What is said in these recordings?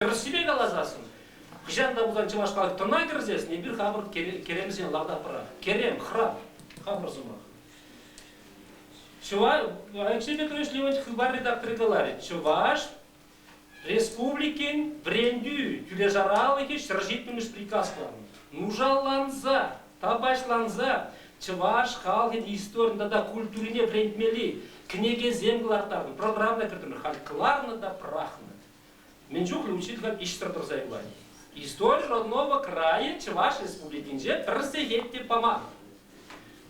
Тӗрӗссипе каласассӑн, хӑҫан та пулсан чӑваш халӑх тӑна кӗрсессӗн эпир хамӑр керемсен лавтапра, керем, храм, хамӑр сӑмах. Чуваш, Алексей Петрович Леонтьев хыпар редакторӗ каларӗ, Чӑваш Республикин вӗрентӳ тӳлешаралӑхӗ ҫӗр ҫитмӗлеш приказланӑ. Нушалланса, тапаҫланса чӑваш халӑхӗн историне тата культурине вӗрентмелли кӗнекесем кӑларттарнӑ, программа кӗртӗмӗр, халь кӑларнӑ та пӑрахнӑ. Мӗн чухлӗ учитель ӗҫсӗр тӑрса юлать. Истори родного крайӗ Чӑваш Республикинче пӗр сехет те паман.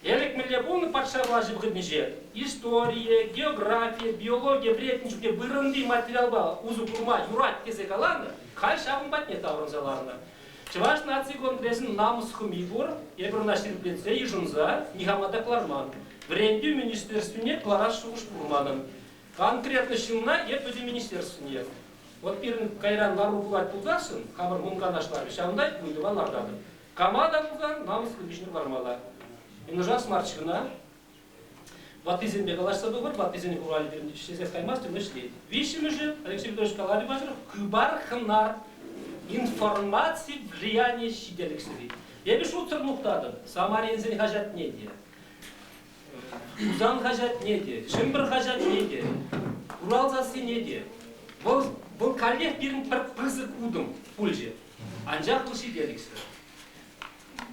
Элӗк мӗнле пулнӑ патша влаҫӗ вӑхӑтӗнче? Историе, географие, биологие вӗрентнӗ чухне вырӑнти материалпа усӑ курма юрать тесе каланӑ, халь ҫавӑн патне таврӑнса ларнӑ. Чӑваш наци конгресӗн намӑс хӑми пур, эпир ӑна ҫирӗплетсе, йышӑнса, нихама та кӑларман. Вӗрентӳ министерствине кӑларас шухӑш пур манӑн. Конкретлӑ ҫынна эп вӗсем министерствӑн ятне. Вӑт пирӗн кайран лару пулать пулсассӑн, хамӑр мунканашларӗ, ҫавӑнта ыйтӑва лартатӑп. Кама та пулсан намӑслӑ пуҫне лармалла. Юнашар марччӗ кӑна. Ваттисемпе калаҫса тухӑр, ваттисен хуралӗ пирӗн ӗҫлесех каймастӑн, ӗҫлет. Виҫҫӗмӗшӗ, Алексей Петрович каланӑ пачах, хыпар хӑнар, информаци влиянийӗ ҫителӗксӗр-и. Эпӗ шутсӑр мухтатӑп Самаринсен хаҫатне те. Хусан хаҫатне те, Чӗмпӗр хаҫатне те, Урал сассине те. Вӑл, вӑл каллех пирӗн пӗр пысӑк утӑм пулчӗ. Анчах ту ҫитерӗксӗр.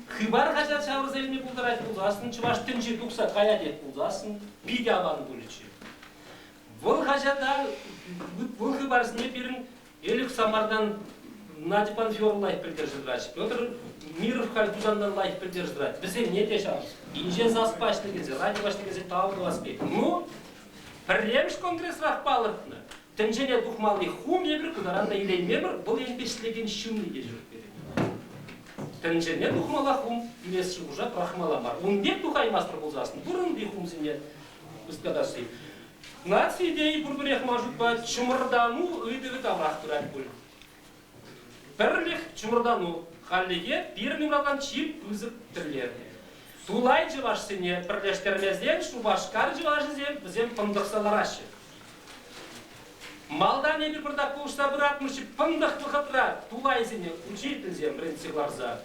Хыпар хаҫат ҫавӑрса илме пултарать пулсассӑн, чӑваш тӗнчи тухса каять пулсассӑн, питӗ аван пулӗччӗ. Вӑл хаҫата, вӑл хыпарсене пирӗн Элӗк Самартан Надьпан Фёр лайӑх пӗлтерсе тӑрать. Петр Миров халь Тусанта лайӑх пӗлтерсе тӑрать. Вӗсене те ҫав. Инҫе сас паҫнӑ тесе, радио паҫнӑ тесе тав тӑвас пек. Ну, пӗрремӗш конгресрах палӑртнӑ. Тӗнчене тухмалли хум эпир кӑнаран та илейместпӗр, вӑл енӗпе ӗҫлекен ҫынни те ҫук пирӗн. Тӗнчене тухмалла хум илес шухӑша пӑрахмалла мар. Ун пек тухаймастӑр пулсассӑн пурӑнни хумсене ӑсткатасси. Наци тени пурпӗрех ман шутпа чӑмӑртану ыйтӑвӗ таврах пырать пуль. Пӗрлӗх, чӑмӑртану хальлӗхе пирӗн упракан чи пысӑк тӗллев. Тулай чӑвашсене пӗрлештермесен Шупашкар чӑвашӗсем вӗсем пӑнтӑхса лараҫҫӗ. Малтан эпир пӑртак пулӑшса пыратмӑрччӗ, пӑнтӑх вӑхӑтра тулайсене учительсем вӗрентсе кӑларса,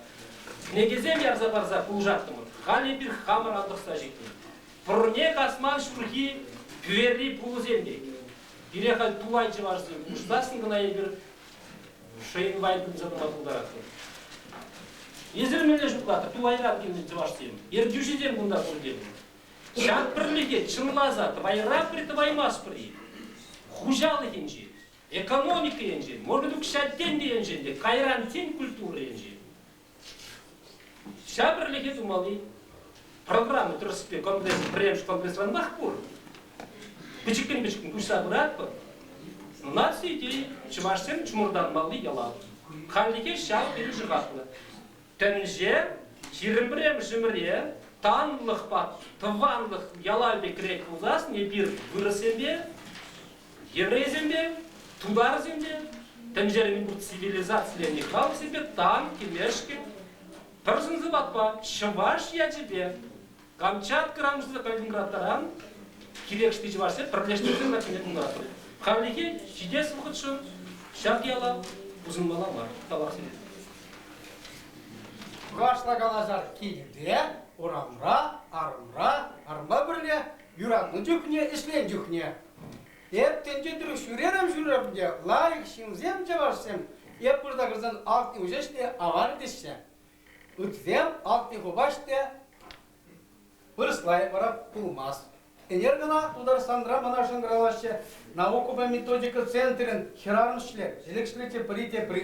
кӗнекесем ярса парса пулӑшаттӑмӑр. Халь эпир хамӑр антӑхса ҫитнӗ. Пурне касман ҫурхи скверри пулӑсем пек. Пире халь тупай чӑвашсем пуҫлассӑн кӑна эпир Шейнвай пырса тӑма пултаратпӑр. Эсир мӗнле шутлатӑр, тупайран килнӗ чӑвашсем, ертӳҫӗсем кунта пур тенӗ. Ҫак пӗрлӗхе чӑнласа тӑвайра пӗр тӑваймастпӑр-и? Хуҫалӑх енчен, экономика енчен, может быть, укҫа-тенкӗ енчен те кайран тен культура енчен Ҫав пӗрлӗхе тумалли программа тӗрӗспе конгресс, пӗрремӗш конгрессранах пур. Пӗчӗккӗн-пӗчӗккӗн куҫса пыратпӑр. Наци идеи чӑвашсем чӑмӑртанмалли яла. Хальлӗхе ҫав тери шӑхахлӑ. Тӗнче ҫирӗм пӗрремӗшӗмӗре танлӑхпа, тӑванлӑх яла пек кӗрет пулсассӑн эпир вырӑссемпе еврейсем те, тутарсем те тӗнчерен курт цивилизациленӗ халӑхсемпе танки-лешки пӗр сӑн-сӑпатпа чӑваш ячӗпе Камчатка рамӑсса калькунраттаран кирекшти чӑвашсем пӗрлештерсе калькунратнӑ. Хальлӗхе ҫитес вӑхӑтшӑн ҫак яла пусӑнмалла мар тавахсене. Кашта калаҫар килте, урамра, арӑмра, арӑмпа пӗрле юратнӑ чухне, ӗҫленӗ чухне. Эп тӗнче тӑрӑх ҫӳрерӗм-ҫӳрерӗм те, лайӑх ҫынсем, чӑвашсем, эп пырса кӗрсен алтни уҫӑҫ те аван теҫҫӗ. Ытсем алтни хупаҫ те вырӑслай вара пулмасть. Ӗнер кӑна Тутарстанра мана шӑнкӑравлаҫҫӗ, наукӑпа методика центрӗн хӗрарӑм ӗҫлет, ҫӗлӗк ӗҫлет те пӗри те пӗри.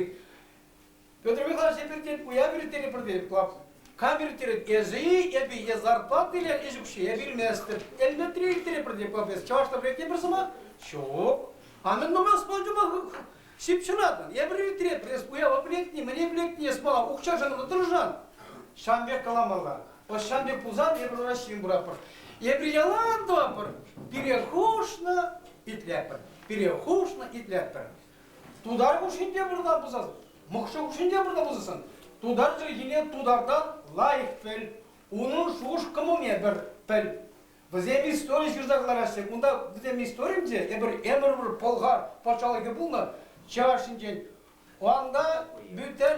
Петр Михайлович, эпир тен уяв ирттерӗпӗр тетӗп клуб. Кам ирттерет? Эсӗ-и, эпӗ е зарплата илер ӗҫ укҫи? Эпир илместӗп. Элнетре ирттерӗпӗр тет клуб эс. Чӑвашла пӗлекне пӗр сӑмах? Ҫук. А мӗн мана спонжӑпа ҫыпҫӑнатӑн? Эпир ирттеретпӗр. Эс уява пӗлетни, мӗне пӗлетни, эс мана укҫашӑн ӑна тӑрӑшан. Ҫавӑн пек каламалла. Ӑс ҫавӑн пек пулсан эпир Раҫҫейӗн пуратпӑр. Эпир ялан тӑватпӑр. Пире хушнӑ, итлетпӗр. Пире хушнӑ, итлетпӗр. Тутар хушшинче пырса пусас, мӑкшӑ хушшинче пырса пусассан, тутар чӗлхине тутартан лайӑх пӗл, унӑн шухӑш-кӑмӑлне пӗр пӗл. Вӗсем истори ҫырса кӑлараҫҫӗ. Кунта вӗсем историнче эпир ӗмӗр-ӗмӗр пӑлхар патшалӑхӗ пулнӑ чӑваш ҫинчен. Унта бүтән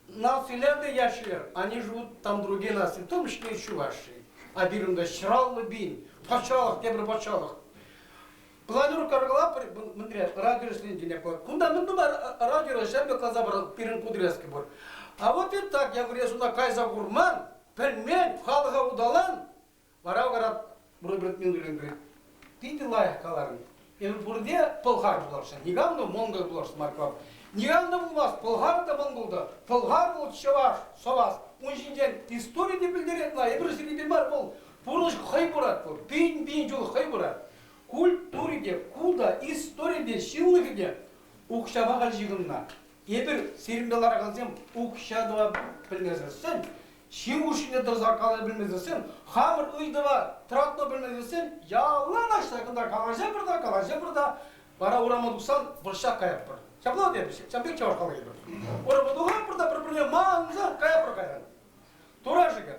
нациллер те яшьлер, они живут там другие нации, в том числе еще ваши. А пирӗн ҫӑраллӑ пин патшалӑх, тепӗр патшалӑх. Планер каркала мӗнре радиоӗҫленкине пур. Кунта мӗн тупар радио ҫамрӑк класа пӑрӑн пирӗн подрезке пур. А вот и так я говорю, сюда кайса курман, пӗлмен, халӑха уталан. Вара говорят, Роберт Миндулин говорит, питӗ лайӑх каларӑн. Эпӗ пурте пӑлхар пуласшӑн. Никам та монгол пуласшӑн Марквам. Никам та пулмасть пӑлхар та монгол та. Пӑлхар вӑл чӑваш, сӑвас. Ун ҫинчен истори те пӗлтерет ма, эпир сирӗнпе мар вӑл. Пурнӑҫ хӑй пырать вӑл, пин-пин ҫул хӑй пырать. Культури те, култа, истори те, ҫывлӑхӗ те укҫапа халь ҫыхӑннӑ. Эпир, сирӗнпе ларакансем, укҫа тӑва пӗлмесӗр сӗн, ҫын хушшине тӑрса калаҫа пӗлмесӗр сӗн, хамӑр ыйтӑва тӑратма пӗлмесӗр сӗн, яланах ҫакӑнта калаҫӑпӑр та, калаҫӑпӑр та, вара урама тухсан вӑрҫа каятпӑр. Ҫапла тепӗҫ, ҫавӑн пек чӑваш калаҫӑпӑр. Урама тухатпӑр та пӗр-пӗрне манса каятпӑр кайран. Тура-шӗкӗр.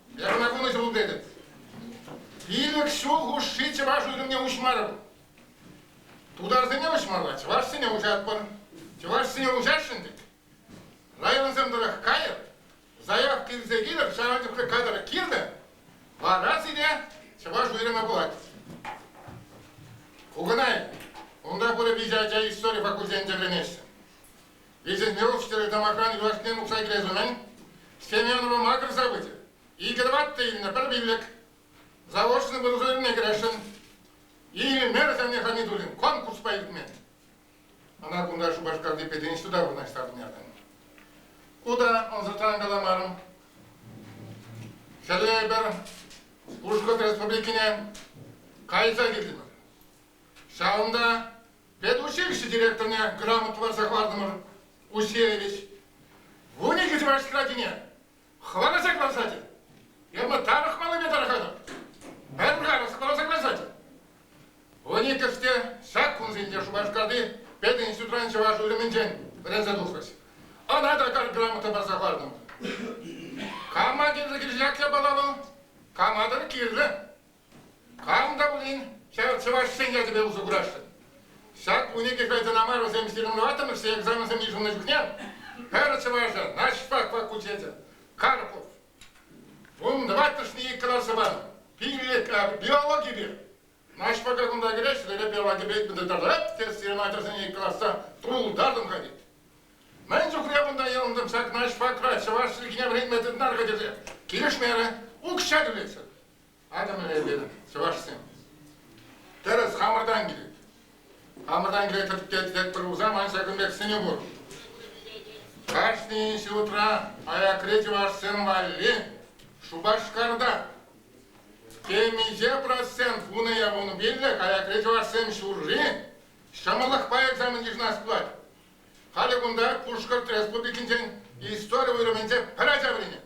Ярӑнакана ҫӑмӑл тетӗп. Пилӗк ҫул хушши чӑваш ӳкӗмне уҫмарӑм. Тутарсене уҫмалла, чӑвашсене уҫатпӑр. Чӑвашсене уҫасшӑн тет. Районсем тӑрӑх кайӑр, заявка илсе килӗр, ҫавӑн чухлӗ кадр килнӗ, вара сире чӑваш уйрӑмӗ пулать. Куканай, унта пурӗ виҫӗ ача истори факультетӗнче вӗренеҫҫӗ. Резинировщикри тамахран юлашкине нукса килес умӗн Семенова макӑрса пычӗ. Икӗ тӑваттӑ илнӗ пӗр пиллӗк. Заочно подразделенине кӗресшӗн. Илмер савне Хамидуллин конкурспа иртмен. Ӑна кунта Шупашкарти пединститута вырнаҫтартӑн яртан. Ку та ӑнсӑртран каламарӑм. Хӗле эпир Пушкӑрт Республикине кайса килтӗмӗр. Ҫавӑнта Предучилище директорне грамота парса хӑвартӑмӑр, Усеевич. Вун икӗ чӑваш хӗрачине хӑваласа кӑларсачӗ. Эпӗ тарӑх малипе тарӑхатӑп. Пӗр карас кӑларса кӑларсачӗ. Вун иккӗште ҫак кунсенче Шупашкарти пединститутран чӑваш уйрӑмӗнчен вӗренсе тухрӑҫ. Ӑна та пӗр грамота парса хӑвартӑмӑр. Кама кирлӗ килсех япала вӑл, кама та кирлӗ. Камӑн та пулин ҫав чӑвашсен ячӗпе усӑ курасшӑн. Ҫак кунне кирпе тӑна мар вӗсем сирӗнлеваттӑмӑрччӗ экзаменсем йышӑннӑ чухне пӗр чӑвашӑ Наҫпак факультечӗ Карпов ун тӑваттӑшне иккӗ ларса панӑ. Пиллӗк биологипе Наҫпака кунта кӗрес ҫӗре биологипе тӑрать те сирӗн ачӑрсене иккӗ лартса тултартӑм-ха тет. Мӗн чухле кунта йӑлӑнтӑм ҫак Наҫпакра чӑваш чӗлхине вӗрентме тытнар-ха тесе килӗшмерӗ, укҫа тӳлетчӗ. Айтӑмӑр эпир, чӑвашсем. Тӗрӗс, хамӑртан килет. Хамӑртан килет тетпӗр пулсан, ман ҫакӑн пек сӗнӳ пур. Кашни ҫуртра аякри чӑвашсем валли Шупашкарта темиҫе процент вунӑ явомобильлӗх аякри чӑвашсем ҫурри ҫӑмӑллӑхпа экзамен йышӑнас пулать. Халӗ кунта Пушкӑрт Республикинчен истори уйрӑмӗнче пӗр ача вӗренет.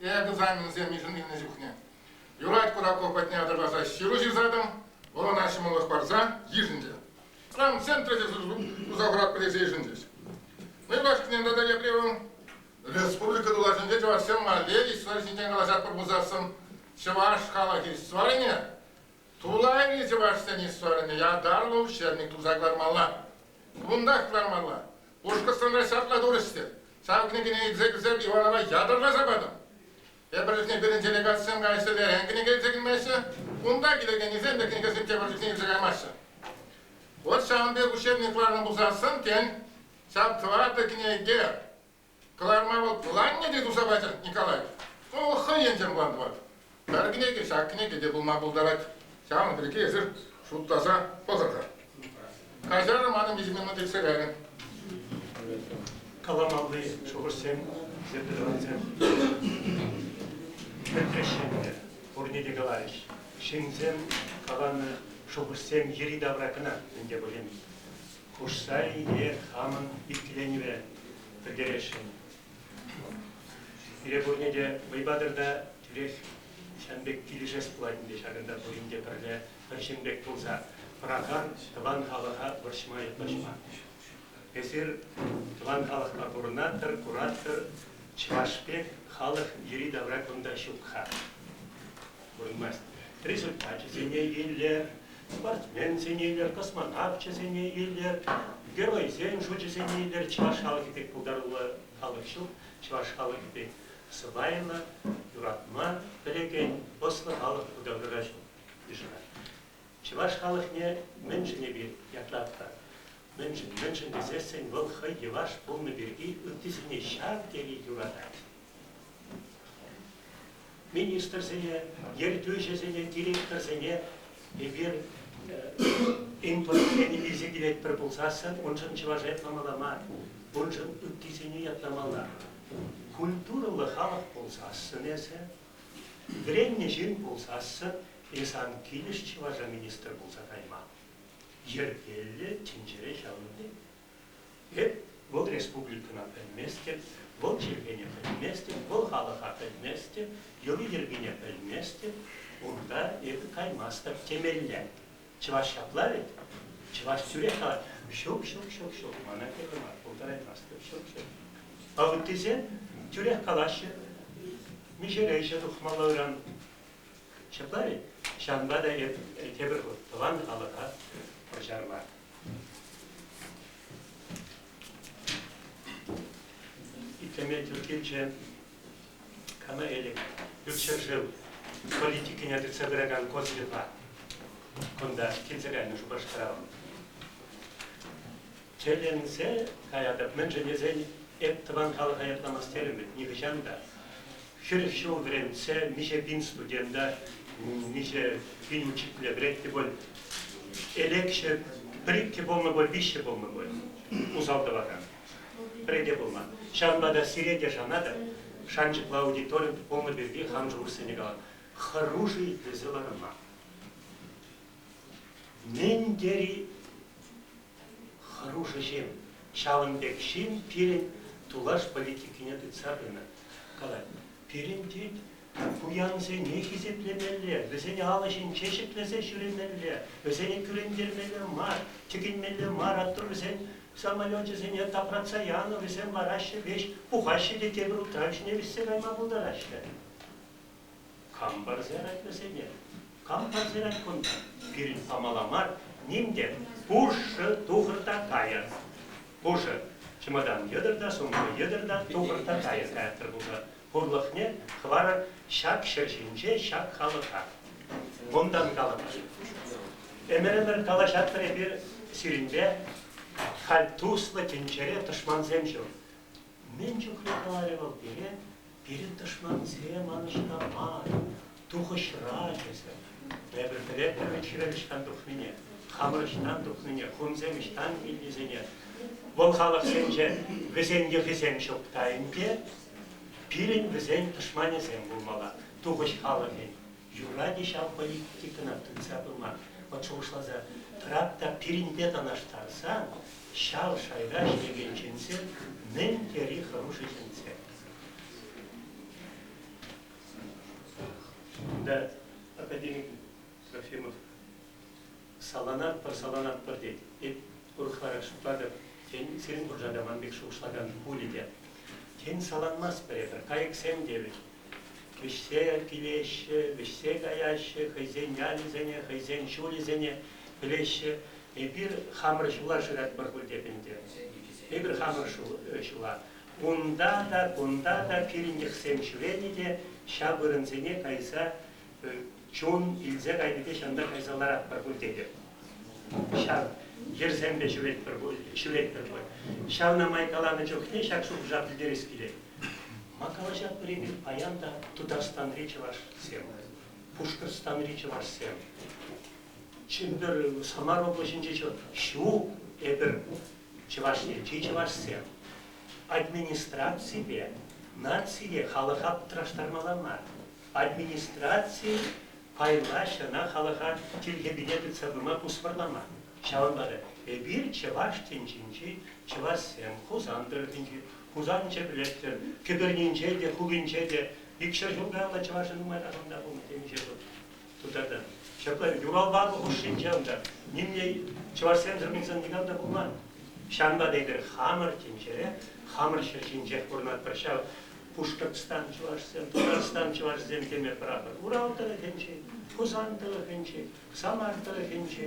Эпӗ тусан вӗсем йышӑннӑ чухне юрать Кураков патне ытарласа ҫыру ҫырсатӑм, вӑл ӑна ҫӑмӑллӑх парса йышӑнчӗ. Ран центра те туса хӑратпӑр тесе йышӑнчӗҫ. Нывашкинен тата Епремовӑн республика тулашӗнче чӑвашсем валеристла ҫинчен калаҫатпӑр пулсассӑн, чӑваш халӑхӗ историне, тулайри чӑвашсен историне ятарлӑ учебник туса кӑлармалла. Кунтах кӑлармалла. Пушкӑртстанра ҫапла турӗҫ-тӗр. Сан кӗнекене илсе кӗрсем Иванова ятарласа патӑм. Эпир чухне пирӗн делегатсем каҫсӗр верен кӗнеке илсе килмеҫҫӗ. Унта килекенӗсем те кӗнекесемпе пӗр чухне илсе каймаҫҫӗ. Вот ҫавӑн пек ущербник кӑларнӑ пулсассӑн, тен, ҫав тӑватӑ кӗнеке кӑларма вӑл пуланне те туса пачӗ Николай. Ку хӑйӗн те мулан тӑвать. Пӗр кӗнеке, ҫак кӗнеке те пулма пултарать. Ҫавӑн пирки эсир шутласа пӑхӑр-ха. Каҫарӑр манӑн виҫӗ минут иртсе кайрӗ. Каламалли шухӑшсем, сертификатсем пӗтрӗҫ ӗнтӗ. Пурне те каларӗҫ. Ҫынсем каланӑ шухӑшсем йӗри-тавра кӑна ӗнтӗ пулин. Хушса е хамӑн иккӗленӗве пӗлтересшӗн. Пире пурне те вӑйпатӑрта тӳрех ҫын пек килӗшес пулать ӗнтӗ ҫакӑнта пурин те пӗрле пӗр ҫын пек пулса пыракан тӑван халӑха вӑрҫма ятлаҫма. Эсир тӑван халӑхпа пурӑнатӑр, куратӑр, чӑваш пек халӑх йӗри-тавра кунта ҫук-ха. Пурӑнмасть. Результачӗсене илер, спортсменсене илер, космонавчӗсене илер, геройсен шучӗсене илер. Чӑваш халӑхӗ пек пултаруллӑ халӑх ҫук. Чӑваш халӑхӗ пек сӑпайлӑ, юратма пӗлекен ӑслӑ халӑх пултаруллӑ ҫук йышӑнать. Чӑваш халӑхне мӗншӗн эпир ятлатпӑр? Мӗншӗн? Мӗншӗн тесессӗн вӑл хӑй йӑваш пулнӑ пирки ыттисене ҫав тери юратать. министрсене, ертӳҫӗсене, директорсене эпир инфоцене илсе килетпӗр пулсассӑн уншӑн чӑваш этномала мар, уншӑн ыттисене ятламалла. Культурӑллӑ халӑх пулсассӑн эсӗ, вӗреннӗ ҫын пулсассӑн е сан килӗш чӑваша министр пулса кайма. Йӗркеллӗ тӗнчере ҫавӑн пек. Вӗт, вӑл республикӑна пӗлместӗп, вӑл чиркӗне пӗлместӗп, вӑл халӑха пӗлместӗп, йӑли-йӗркине пӗлместӗп, унта эпӗ каймастӑп темелле. Чӑваш ҫапла вӗт? Чӑваш тӳрех калать, ҫук, ҫук, ҫук, ҫук, мана кирлӗ мар, пултараймастӑп, ҫук, ҫук. А ыттисем тӳрех калаҫҫӗ, миҫере ӗҫе тухмалла ыран. Ҫапла вӗт? Ҫавӑнпа та эп тепӗр хут тӑван халӑха пӑрҫарма Итлеме тӳр килчӗ. Кама элек? Ют ҫӗршыв политикине тытса пыракан Козлева кунта килсе кайнӑ Шупашкара вӑл. Тӗлӗнсе каятӑп, мӗншӗн тесен эп тӑван халӑха ятламас терӗм вӗт нихӑҫан та. Ҫӗр ҫул вӗрентсе миҫе пин студента, миҫе пин учителе вӗрентнӗ пуль, элекҫӗ пӗр-иккӗ пулнӑ пуль, виҫҫӗ пулнӑ пуль усал тӑвакан. Пӗри те пулман. Ҫавӑнпа та сире те шанатӑп, шанчӑклӑ аудиторин пулнӑ пирки хан шухӑшсене кала. Хӑрушӑ итлесе ларма. Мӗн тери Хӑрушӑ ҫын. Ҫавӑн пек ҫын пирӗн тулаш политикине тытса пынӑ. Калать, пирӗн тет пуянсене хисеплемелле, вӗсен алӑ ҫинче ҫӗклесе ҫӳремелле, вӗсене кӳрентермелле мар, тӗкӗнмелле мар, атту вӗсен самолечӗсене тапратса янӑ, вӗсем лараҫҫӗ, веҫ пухаҫҫӗ те тепӗр утрав ҫине вӗҫсе кайма пултараҫҫӗ. Кам парсарать вӗсене? Кам парсарать кунта? Пирӗн самала мар, ним те, пушшӑ тухӑр та кайӑр. Пушӑ, чӑмӑртан йӑтӑр та, сумлӑ йӑтӑр та, тухӑр та кайӑр каяттӑр пушӑ. Пурлӑхне хӑварӑр ҫак ҫӗр ҫинче, ҫак халӑха. Унтан калӑпӑр. Ӗмӗр-ӗмӗр калаҫатпӑр эпир сирӗнпе, халь туслӑ тӗнчере тӑшмансем ҫук. Мӗн чухлӗ каларӗ вӑл пире, Пирӗн тӑшмансем манӑшкӑ мар, тухӑҫра, тесе. Эпир пӗлетпӗр чӗрӗ ӑҫтан тухнине, хамӑр ӑҫтан тухнине, хунсем ӑҫтан килнисене. Вӑл халӑхсенче вӗсен йӑхӗсем ҫук та ӗнтӗ. Пирӗн вӗсен тӑшманӗсем пулмалла, тухӑҫ халӑхӗн. Юрать-и ҫав политикӑна тытса пыма? Вӑт шухӑшласа тӑрап та пирӗнпе танлаштарсан, ҫав шайра ӗҫлекен ҫынсем мӗн тери хӑрушӑ ҫынсем. Да, академик Трофимов саланатпӑр, саланатпӑр тет. Эп урӑхларах шутлатӑп, тен, сирӗн пурҫа та ман пек шухӑшлакан пулӗ те. Тен, саланмастпӑр эпир, кайӑксем тевӗт. Вӗҫсе килеҫҫӗ, вӗҫсе каяҫҫӗ хӑйсен ялӗсене, хӑйсен ҫулӗсене пӗлеҫҫӗ. Эпир хамӑр ҫула шыратпӑр пуль теп ӗнтӗ. Эпир хамӑр ҫула. Унта та, кунта та пирӗн йӑхсем ҫӳренӗ те ҫав вырӑнсене кайса чун илсе кайни те ҫанта кайса ларатпӑр пуль тетӗп. Ҫав йӗрсемпе ҫӳретпӗр пуль, ҫӳретпӗр пуль. Ҫавна май каланӑ чухне ҫак шухӑша пӗлтерес килет. Ма калаҫатпӑр-и паян та Тутарстанри чӑвашсем, Пушкӑртстанри чӑвашсем? Чӗмпӗр, Самар облаҫӗнче ҫук. Эпир Чӑваш Енри чӑвашсем администраципе нацие халӑха пӑтраштармалла мар. Администраци пайлаҫ ӑна халӑха тилхепене тытса пыма пусмӑрламан. Ҫавӑнпа та эпир чӑваш тӗнчинчи чӑвашсем Хусан тӑрӑхӗнчи, Хусан Ҫӗпрелӗхсем, кӗпернинче те, хулинче те икҫӗр ҫул каялла чӑвашӗ нумай тахӑнта пулнӑ темиҫе ҫул. тутартӑм. Ҫапла юрал-бару хушшинче унта нимле чӑвашсемсӗр никам та пулман. Ҫавӑнпа эпир хамӑр тӗнчере, хамӑр ҫӗр ҫинчех пурӑнатпӑр ҫав. Пушкӑртстан чӑвашсем, Тутарстан чӑвашӗсем теме пӑрахӑр. Урал тӑрӑхӗнчи, Хусан тӑрӑхӗнчи, Самар тӑрӑхӗнчи,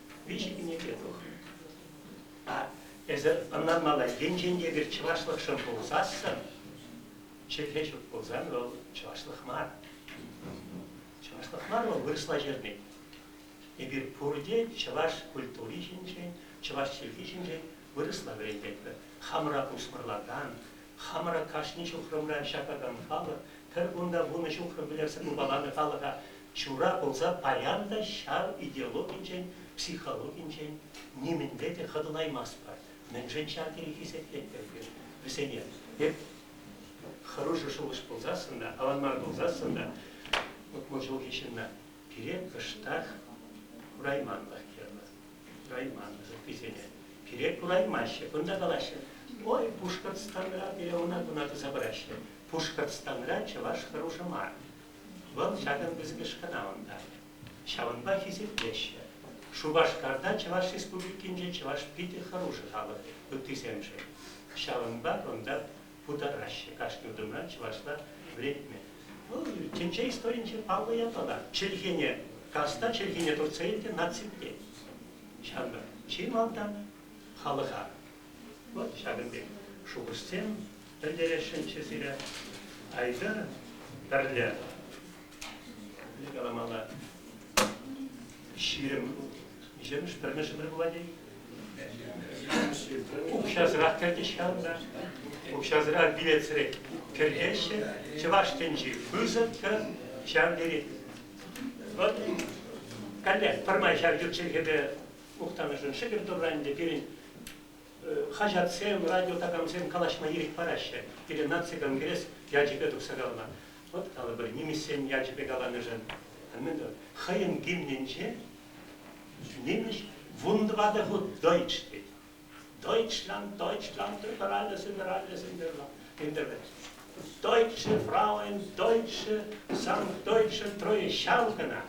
виҫӗккӗне те тухнӑ. Эсӗ ӑнланмалла, енчен те эпир чӑвашлӑхшӑн пулсассӑн, чӗлхе ҫук пулсан вӑл чӑвашлӑх мар. Чӑвашлӑх мар вӑл вырӑсла ҫырни. Эпир пурте чӑваш культури ҫинчен, чӑваш чӗлхи ҫинчен вырӑсла вӗрентетпӗр. Хамӑра пусмӑрлакан, хамӑра кашни ҫухрӑмра ҫакакан халӑх, пӗр кунта вунӑ ҫухрӑм пӗлӗрсӗр упаланӑ халӑха Ҫура пулса паян та ҫар идеологинчен, психологинчен нимӗнле те хӑтӑлаймастпӑр. Мӗншӗн ҫав тери хисеплет эпир вӗсене? Эп хӑрушӑ шухӑш пулсассӑн та, аван мар пулсассӑн та утмӑл ҫулхи ҫынна пире кӑштах курайманлӑх кирлӗ. Курайманлӑх ыттисене. Пире кураймаҫҫӗ, кунта калаҫҫӗ. Ой, Пушкӑртстанра пире ӑна-куна туса пыраҫҫӗ. Пушкӑртстанра чӑваш хӑрушӑ мар. Вӑл ҫакӑн пысӑкӑш кӑна унта. Ҫавӑнпа хисеплеҫҫӗ. Шупашкарта Чӑваш Республикинче чӑваш питӗ хӑрушӑ халӑх ыттисемшӗн. Ҫавӑнпа кунта путараҫҫӗ кашни утӑмра чӑвашла вӗрентме. Вӑл тӗнче историйӗнче паллӑ ятлӑ та. Чӗлхене, каста чӗлхене туртса илнӗ наци тет. Ҫавӑнпа чи малта халӑха Вӑт ҫакӑн пек шухӑшсем пӗлтересшӗнччӗ сире. Айтӑр, пӗрле. Пӗрле каламалла. Ҫирӗм виҫҫӗмӗш, пӗрмӗш ӗмӗр пулать-и? Укҫасӑрах кӗртӗҫ-ха унта. Укҫасӑра билетсӗрех кӗртеҫҫӗ. Чӑваш тӗнчи пысӑккӑ ҫав тери. Вӑт, каллех пӗрмай ҫав ют чӗлхепе мухтанӑшӑн шӗкӗр турра ӗнтӗ пирӗн хаҫатсем, радиотакансем калаҫма ирӗк параҫҫӗ. Пирӗн наци конгресс ячӗпе тухса каланӑ. Вот калӑпӑр, нимӗҫсен ячӗпе каланӑшӑн. Мӗн тӑвӑр? Хӑйӗн гимнӗнче нимӗҫ вун тӑватӑ хут дойч тет. Deutschland, Deutschland, über alles, über alles, in der Internet. Deutsche Frauen, Deutsche, sagen Deutschen treue Schau кӑна.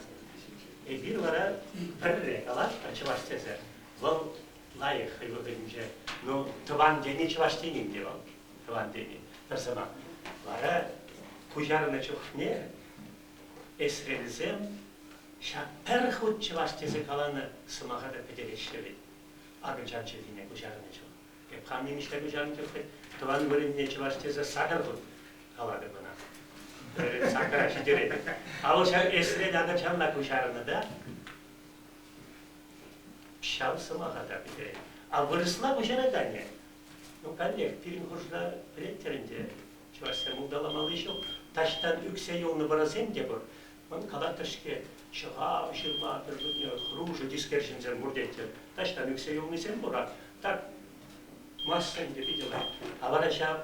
Эпир вара пӗрре калатпӑр чӑваш тесе. Вӑл лайӑх хӑй вӑхӑтӗнче. Ну, тӑван тени чӑваш тенин те вӑл. Тӑван тени. Пӗр сӑмах. Вара куҫарнӑ чухне эсрелсем ҫак пӗр хут чӑваш тесе каланӑ сӑмаха та пӗтереҫҫӗ вӗт. акӑлчан чӗлхине куҫарнӑччӗ. Эп хам нимӗҫле куҫарнӑ тӗлте тӑван вырӑнне чӑваш тесе сакӑр хут калатӑп ӑна. Пӗр сакӑра ҫитерет. Авӑлҫа эсрел акӑлчанла куҫарнӑ та ҫав сӑмаха та пӗтерет. А вырӑсла куҫарать анне. Ну, каллех, пирӗн хушра пӗлеттӗр ӗнтӗ, чӑвашсем улталамалли ҫук. Таҫтан ӳксе юлнӑ вӑрӑсем те пур. Мӑн катак-кӗшке, ҫӑхав, ҫырма пӗр чухне хрушӑ тискер ҫынсем пур тетчӗ. Таҫтан ӳксе юлнисем пур-ха. Так, массӑн те питӗ лайӑх. А вара ҫав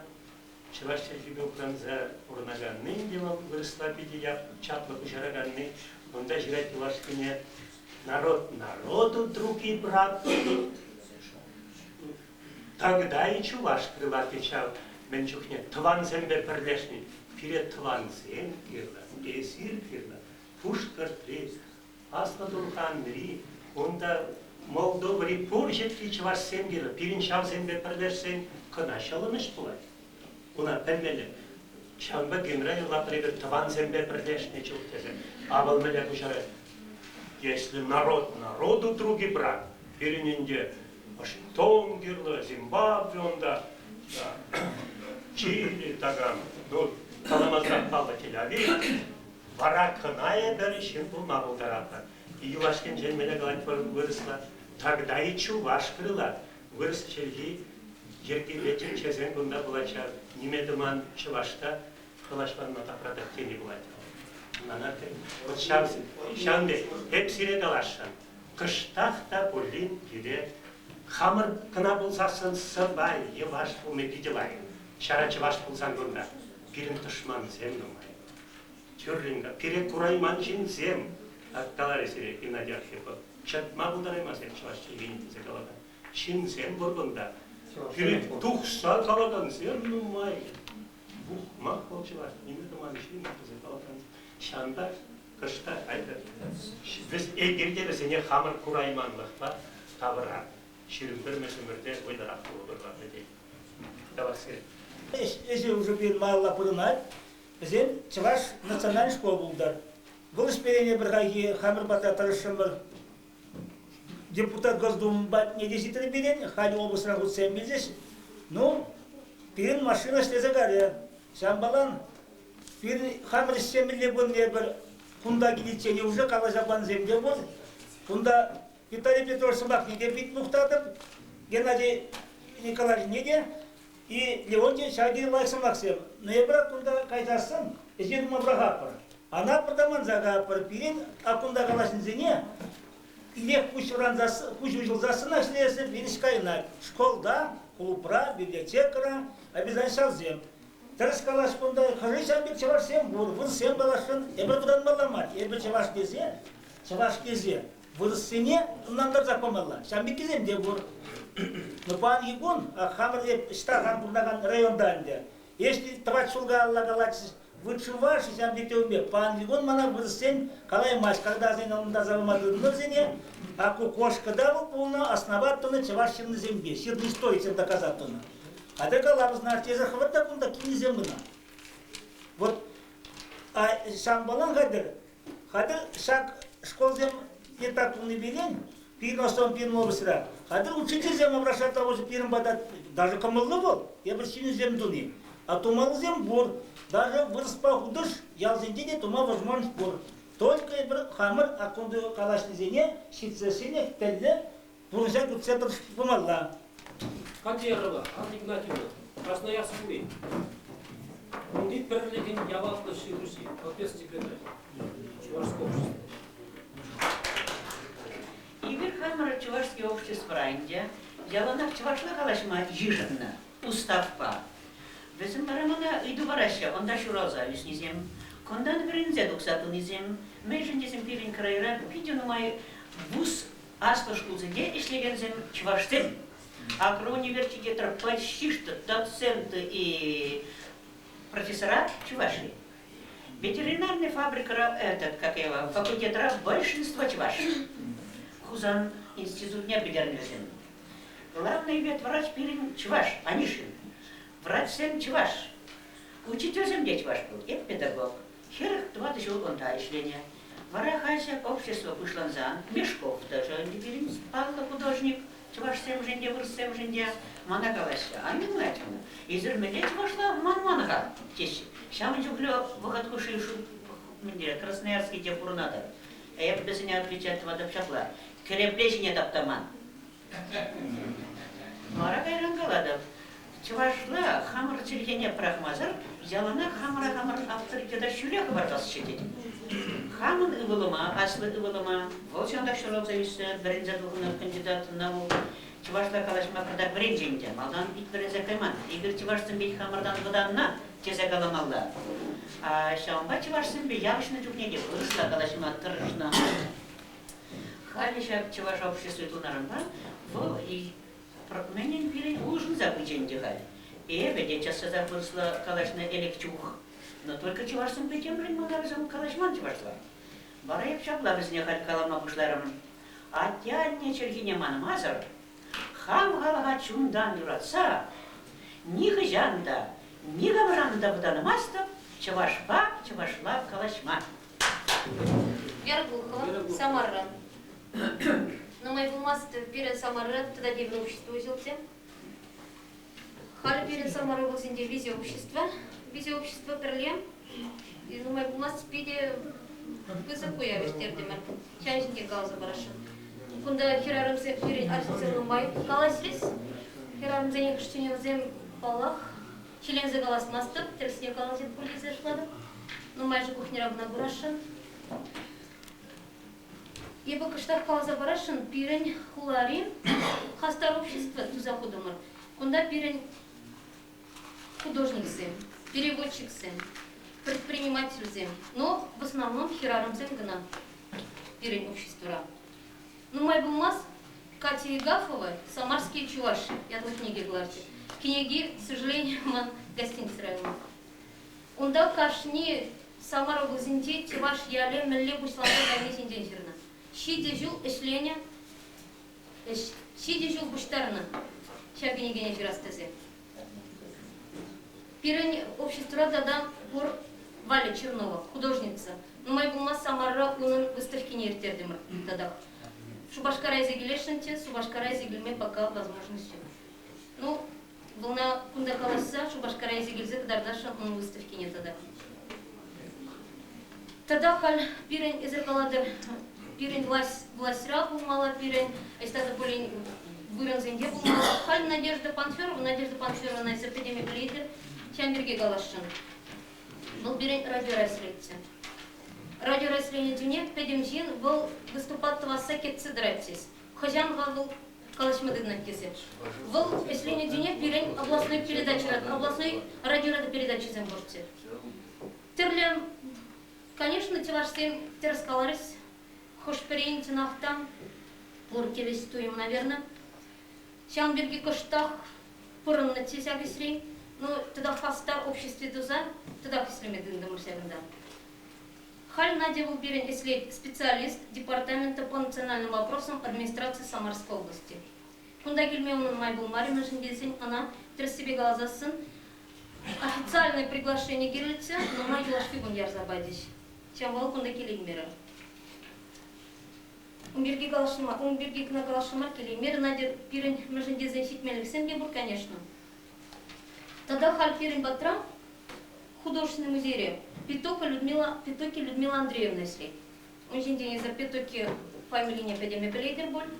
чӑваш чӗлхипе упранса пурӑнаканни те вӑл вырӑсла питӗ чаплӑ куҫараканни. Унта ҫырать юлашкине народ народу друг и брат. Тогда и чувашские латы ҫав мӗн чухне тӑвансемпе пӗрлешни. Пире тӑвансем кирлӗ, эсир кирлӗ. Пушкӑртри, Аслӑ Турханри, унта Молдовӑри пур ҫӗрти чӑвашсем кирлӗ. Пирӗн ҫавсемпе пӗрлешсен кӑна ҫӑлӑнӑҫ пулать. Уна пӗлмелле. Ҫавӑнпа генра юрлатпӑр эпир тӑвансемпе пӗрлешнӗ чух тесе. Авал мӗнле куҫарать? Если народ народу друг и брат, пирӗн ӗнтӗ Вашингтон кирлӗ, Зимбабве унта, Чили такам. Ну, каламасан паллӑ Тель-Авив. Вара кӑна эпир ҫын пулма пултаратпӑр. Юлашкинчен мӗне калать вырӑсла? Тогда и чуваш крылат. Вырӑс чӗлхи йӗркилле тӗнчесен кунта пулатчӗ. Ниме тӑман чӑвашта калаҫланма тапратать тени пулать. Мана вот ҫав, ҫавӑн пек эп сире каласшӑн. Кӑштах та пулин пире хамӑр кӑна пулсассӑн сӑпай йӑваш пулни питӗ лайӑх. Ҫара чӑваш пулсан кунта пирӗн тӑшмансем нумай. Тӳррӗн пире курайман ҫынсем, каларӗ сире Геннадий Архипов. Чӑтма пултараймасӑр чӑваш чӗлхин тесе калакан ҫынсем пур кунта. Пире тухса калакансем нумай. Мах вӑл чӑваш, нимӗн туман ҫынна тесе калакан. Ҫавӑнпа кӑшта айтӑр. Вӗс эгерте вӗсене хамӑр курайманлӑхпа тавӑра. Ҫирӗм пӗрмӗш ӗмӗрте вӑйлӑрах пулӑпӑр вӗсен. Тавахсем. Ӗҫе уже пирмалла пурӑнать. Вӗсем чӑваш национальный школ пултӑр. Вӑл ӗҫ пирене пӗрхайхи хамӑр пата тӑрӑшрӑмӑр. депутат Госдумӑн патне те ҫитрӗм пирӗн, халӗ облаҫра хутсем килчӗҫ. Ну, пирӗн машина ӗҫлесе кайрӗ. Ҫавӑнпалан пирӗн хамӑр ӗҫлемелле пулнӑ эпир. Кунта киличчен уже калаҫа пансем те пур. Кунта Виталий Петрович сӑмахне те пит мухтатӑп, Геннадий Николаевичне те. И Левонтий ҫакӑ лайӑх сӑмахсем. Ноябра кунта кайсассӑн ӗҫе тума пӑрахатпӑр. Анапӑр та манса каятпӑр. Пирӗн кунта калаҫнисене ирех куҫ куҫ уҫӑлсассӑнах ҫӳресӗр пирӗн кайнак. Школта, клубра, библиотекӑра обязательно ҫавсем. Тӗрӗс калас кунта хӑшӗ ҫав пек чӑвашсем пур, вырӑссем каласшӑн, эпир вӑтанмалла мар. Эпир чӑваш тесе, чӑваш тесе. вырӑссене ӑнлантарсах памалла. Ҫавӑн пеккисем те пур. Но паянхи кун хамӑр эп ӑҫта хан пурӑнакан районта ӗнтӗ. Если тӑват ҫулга алла калатчӗҫ, вытшываши ҫавӑн пек тевӗнпе. Паянхи кун мана вырӑссен каламасть, когда сен ӑнлантарса пама тытӑннӑрсене. А кокошкӑта вӑл пулнӑ, основать тунӑ чӑваш ҫыннисемпе, ҫырни стой чем доказать тунӑ. Хотя калабызна тесе хӑвӑр та кунта кинӗсем кӑна. Вот а ҫавӑнпалан хатӗр Хатыр ҫак школсем те пулни пирен пирӗн основан пирӗн облаҫра. Хатыр учительсем обращать того же пирӗн пата даже кӑмӑллӑ вӑл, эпир ҫыннисем туни. А тумаллисем пур. Даже вырӑспа хутӑш ялсенче те тума возможность пур. Только эпир хамӑр о ком калаҫнисене ҫитсессине тӗллӗ Пурнӑҫа путсе пымалла. Кадерова Анна Игнатьевна, Красноярскри унти пӗрлӗхӗн яваплӑ ҫыхӑҫи, професси педагогӗ, Чувашское Игорь хамӑрӑн Чӑвашский обществӑра ӗнтӗ, яланах чӑвашла калаҫма йышӑннӑ Устаппа. Вӗсем вара мана ыйту параҫҫӗ, унта ҫуралса ӳснисем, кунтан вӗренсе тухса пынисем, мӗншӗн тесен пирӗн крайра питӗ нумай бус аслӑ шкулсенче ӗҫлекенсем чӑвашсем. Агроуниверситетра почти доценты и профессора чуваши. Ветеринарная фабрикара, этот, как его, факультетра большинство чуваши. Хусан институтне пӗтернӗ вӗсем. Главный ветврач пирӗн чӑваш, Анишин. Врачсем чӑваш. Учительсем те чӑваш пуль, эп педагог. Хӗрӗх тӑватӑ ҫул унта ӗҫленӗ. Вара халӗ общество пуҫлансан Мешков тӑрӑшать ӗнтӗ пирӗн. Паллӑ художник чӑвашсемшӗн те, вырӑссемшӗн те мана калаҫҫӗ, Ан юрлать ӑна, эсир мӗнле чӑвашла манман-ха? теҫҫӗ. Ҫавӑн чухлӗ вӑхӑт хушши Красноярский те пурӑнатӑп. Эп вӗсене отвечать тӑватӑп ҫапла, кӗрепле ҫине таптаман. Вара кайран калатӑп, чӑвашла хамӑр чӗлхене пӑрахмасӑр яланах хамӑра-хамӑр авторитета ҫӳле хӑпартасчӗ тет. Хамӑн ывӑлӑма, аслӑ ывӑлӑма, вӑл ҫантах ҫуралса ӳснӗ, вӗренсе тухнӑ кандидатӑна вӑл чӑвашла калаҫма кӑтартма вӗренчӗ ӗнтӗ, малтан ик вӗренсе кайман, эпир чӑвашсемпе хамӑртан вӑтаннӑ тесе каламалла. А ҫавӑнпа чӑвашсемпе явӑҫнӑ чухне те вырӑсла калаҫма тӑрӑшнӑ. Халӗ ҫак чӑваш обществи тунаранпа вӑл мӗнӗн пирӗн улшӑнса пычӗ ӗнтӗ халь. Эпӗ те час-часах вырӑсла калаҫнӑ элек чух. Но только чӑвашсем пӗтӗмшӗн маларисем калаҫман чӑвашла. Вара эп ҫапла вӗсене халь калама пуҫларӑм. Атте-анне чӗлхине манмасӑр, хам халӑха чунтан юратса, нихӑҫан та, никамран та вӑтанмастӑп чӑвашпа чӑвашла калаҫма. Вербухова, Самара. Нумай пулмасть пирӗн Самара тата тепӗр общество уҫӑлчӗ. Халӗ пирӗн Самара облаҫӗнче виҫе общество. Виҫе общество пӗрле нумай пулмасть питӗ пысӑк уяв ирттертӗмӗр. Ҫан ҫинчен каласа парасшӑн. Кунта хӗрарӑмсем пирӗн арҫынсем нумай калаҫрӗҫ. Хӗрарӑмсен хӑш чунӗсем паллах. Ҫӗленсе калас-мастӑп, тӗрӗсне калаҫӑн пур тесе шутлатӑп. Нумайӑшӗ пухнера кӑна курасшӑн. Эпӗ кӑштах каласа парасшӑн, пирӗн хулари хастар общество туса хутӑмӑр. Кунта пирӗн художниксем, переводчиксем, предпринимательсем, но в основном хӗрарӑмсем кӑна пирӗн обществора. Нумай пулмасть Катя Егафова Самарские чуваши ятлӑ кӗнеке кӑларчӗ. Кӗнеки, к сожалению, ман гостиница районӗ. Унта кашни Самар облаҫӗнчи чӑваш ялӗ мӗнле пуҫланса кайни ҫинчен ҫырнӑ. Ҫичӗ ҫул ӗҫленӗ, ҫичӗ ҫул пуҫтарнӑ ҫав кӗнекене ҫырас тесе. Пирӗн обществӑра тата пур. Валя Чернова, художница. Нумай пулмасть Самара унӑн выставкине ирттертӗмӗр татах. Шупашкара илсе килесшӗн те, Шупашкара илсе килме пока возможность ҫук. Ну, вӑлна кунта каласса Шупашкара илсе килсе кӑтартасшӑн унӑн выставкине татах. Тата халь пирӗн, эсир калатӑр, пирӗн власть, влаҫра пулмалла пирӗн, ӑҫта та пулин вырӑнсенче пулмалла. Халь Надежда Панферова, Надежда Панферова эсир пӗтӗме пӗлетӗр, ҫав пирки каласшӑн. Вӑл пирӗн радиорасредчӗ. Радиорасредчӗне пӗтӗм ҫын вӑл выступа тӑвасса кӗтсе тӑрать хӑҫан-ха вӑл калаҫма тытӑнать тесе. Вӑл вӗҫленӗ тӗне пирӗн областной передача, областной радиорада передачисем пурччӗ. Тӗрлӗ, конечно, чӑвашсем тӗрӗс каларӗҫ. Хӑш-пӗрин чӑнах та пур килес туйӑм, наверное. Ҫавӑн пирки кӑштах пурӑннӑччӗ ҫак ӗҫре. Ну, тата хастар обществи туса тӑтах ӗҫлеме тытӑнтӑмӑр ҫакӑнта. Халь Надя вӑл пирӗн ӗҫлет, специалист, департамента по национальным вопросам администраци Самарской области. Кунта килме унӑн май пулмарӗ, мӗншӗн тесен ӑна, тӗрӗссипе каласассӑн, официальное приглашение кирлӗччӗ, но май юлашки кун ярса пачӗҫ. Ҫав вӑл кунта килеймерӗ. Ун пирки калаҫнӑ мар, ун пирки кӑна калаҫнӑ мар, килеймерӗ. Надя пирӗн мӗншӗн тесен ҫитменлӗхсем те пур, конечно. Тата халь пирӗн патра художественный музейре Петука Людмила, Петуки Людмила Андреевна ӗҫлет. Ун ҫинчен эсӗ Петуки фамилине пӗтӗме пӗлетӗр пуль.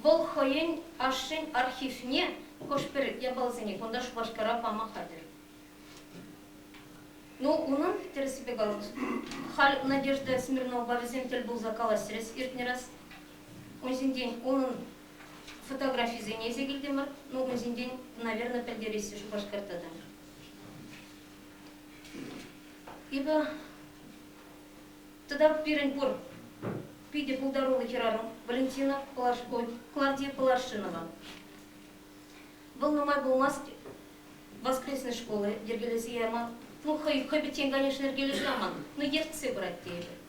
Вӑл хӑйӗн ашшӗн архивне хӑш-пӗр япаласене кунта Шупашкара пама хатӗр. Ну, унӑн, тӗрӗссипе калас, халь Надежда Смирновапасем тӗл пулса калаҫрӗҫ иртнӗ раз. Ун ҫинчен унӑн Фотографисене ӗҫе килтӗмӗр. Ну, кун ҫинчен, наверное, пӗлтереҫҫӗ Шупашкар тата. Ибо тата пирӗн пур питӗ пултаруллӑ хӗрарӑм Валентина Клавдия Поларшинова. Вӑл нумай пулмасть воскресной шкулы йӗркелесе яма, ну хӑй хӑй пӗччен, конечно, йӗркелесе яман, но ертсе пырать тейӗпӗр.